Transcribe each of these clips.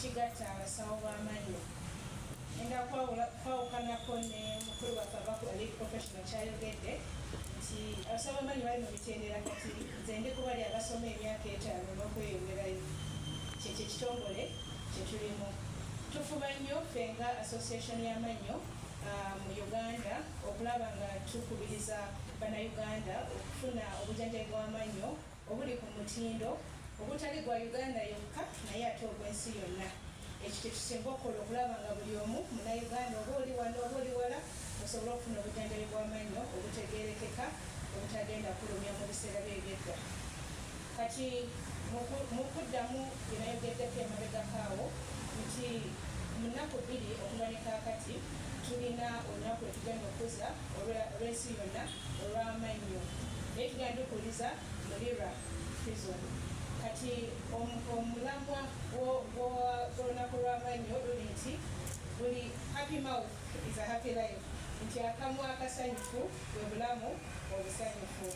ekigatta abasawo b'amannyo enda kwawukanako ne mukulu waffe abakola lead professional kyayogedde nti abasawo b'amannyo bali mu mitendera kati nze ndi kubali abasoma emyaka etaano n'okweyongerayo kyekyo ekitongole kye tulimu tufuba nnyo ffe nga association y'amannyo uh, mu Uganda okulaba nga tukubiriza Bannayuganda okufuna obujanjabi bw'amannyo obuli ku mutindo ogutali gwa Uganda yokka naye ate ogw'ensi yonna. Ekyo kye tusinga okukola okulaba nga buli omu Munnayuganda oba oli wano oba oli wala osobola okufuna obujanjabi bw'amannyo obutegeerekeka obutagenda kulumya mu biseera bye eby'edda. Kati mu kuddamu bye nayogeddeko emabegako awo nti mu nnaku bbiri okuva ne kaakati tulina olunaku lwe tugenda okukuza olw'ensi yonna olw'amannyo naye tugenda tukuliza mu lira prison kati omulamwa gw'olunaku lw'amannyo luli nti buli happy mouth is a happy life nti akamwa akasanyufu bwe bulamu obusanyufu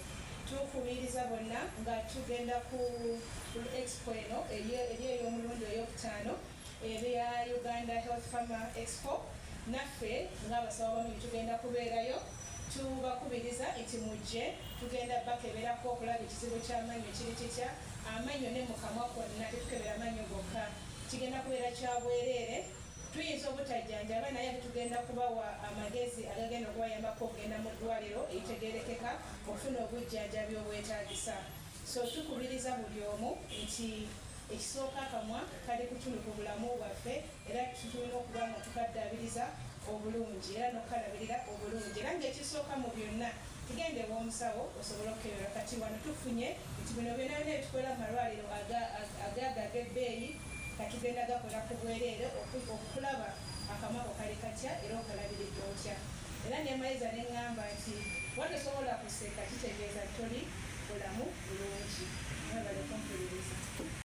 Tukubiriza bonna nga tugenda ku expo eno eri ey'omulundi ey'okutaano ebya Uganda Health Farmer Expo naffe ng'abasawo bamu tugenda kubeerayo tubakubiriza nti mujje tugenda bakeberako okulaba ekizibu ky'amannyo kiri kitya amannyo ne mu kamwa kwonna tetukebera amannyo gokka kigenda kubeera kya bwereere Tuyinza obutajjanjaba naye ate tugenda kubawa amagezi agagenda okubayambako okugenda mu ddwaliro eritegeerekeka okufuna obujjanjabi obwetaagisa. So tukubiriza buli omu nti ekisooka akamwa kali kutulu ku bulamu bwaffe era tulina okuba nga tukaddaabiriza obulungi era n'okukalabirira obulungi era ng'ekisooka mu byonna tugenda ew'omusawo osobole okukebera kati wano tufunye nti bino byonna byona ebitukola mu malwaliro agaaga ag'ebbeeyi nga tugenda gakola ku bwereere okulaba akamwa ko kali katya era okalabiridde otya. Era ne Maiza ne ŋŋamba nti, bw'oba tosobola kuseka kitegeeza toli bulamu bulungi. Mwebale kumpuliriza.